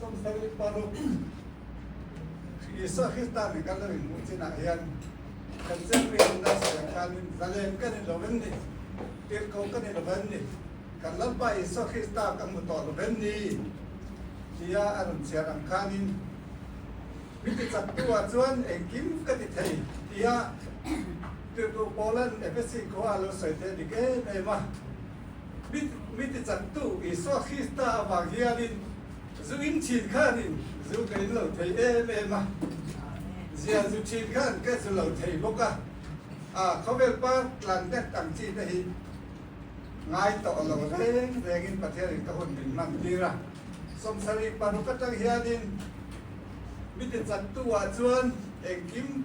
Sawmsarih paruk Isua Krista nen kan lo inhmuh chin ah hian kan Chenri an dar sawi ang khan in zalem ka ni lo em ni? Tirhkoh ka ni lo em ni? Kan Lalpa Isua Krista ka hmu tawh lo em ni? tia a rawn chhiar ang khan in mi tichak tu ah chuan engkim ka ti thei tia tirhduh Paula Efesi khua ah a lo sawi theih a dik em em a. mi tichangtu Isua Krista avang hianin zu in thin khan in zu ka in lo thei em em a, zia zu thin khan ka zu lo thei bawk a, a khawvel par tlan dek ang chi te hi ngai tawh lo reng reng in Pathian in ka hun min hman tir a, sawmsarih paruk atang hianin mi tichangtu ah chuan engkim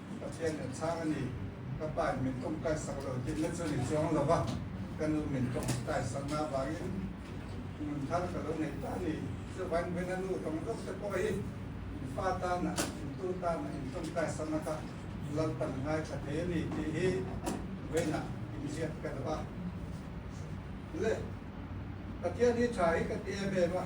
Pathian kan chhang a ni, ka pa in min kum taisak lo tih na chu ni chuang lo va, ka nu min kum taisak na vangin hmun thar ka lo nei ta a ni. Chuvain veng a nu tawng zawk te pawh hi in pa tan ah, in tu tan ah in kum taisak na kha lalpan ngai tha thei a ni tih hi veng ah inziak ka duh a. Le, Pathian hi tha hi ka ti em em a.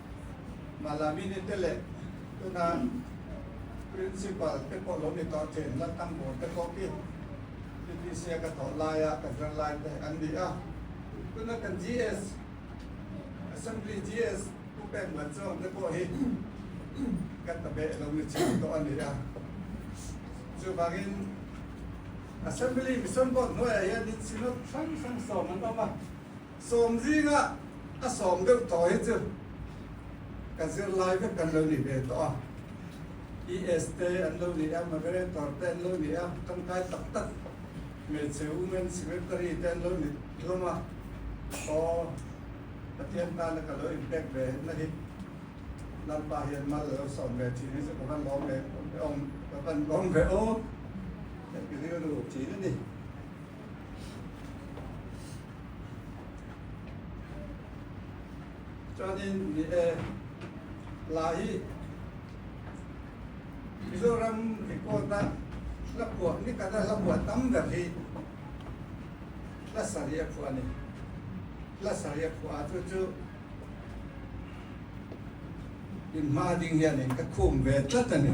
Malamini te leh tuna Principal te pawh lo ni tawh chen la Tangbaw te pawh khi ppc a ka thawh laia ka zir lai te an ni a. Tuna kan GS, Assembly GS, Pu Peng Vat Zawng te pawh hi ka ta beh lo ni chhin tawh a ni a. Chuvangin Assembly Mission pawh hnuaiah hian Synod hrang hrang sawm an awm a. Sawm zinga a sawm deuh tawh hi chu ka zirlai vek kan lo ni ve tawh a, ES te an lo ni a, Moderator te an lo ni a, tangkai tak tak hmeichhe Women Secretary te an lo ni hlawm a, aw Pathian tana ka lo inpek ve na hi lalpa hian mal alo sawm ve thin hi chu ka va lawm ve awm ka va lawm ve aw, ka rilru thin a ni. Chuanin ni e, la hi Mizoram report a hla puah ni kata hla puah tam ber hi hla sarih a phuah a ni. Hla sarih a phuah a chu chu inhma ding hian in ka khum ve tlat a ni.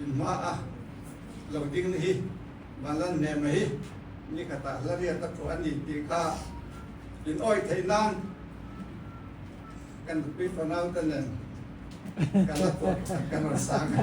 in hma a lo ding hi Malan Nema hi ni khatah hlariat a thu a ni tih kha in awi theih nan kan nupi fanau te nen ka la pawt ka rawn sang a.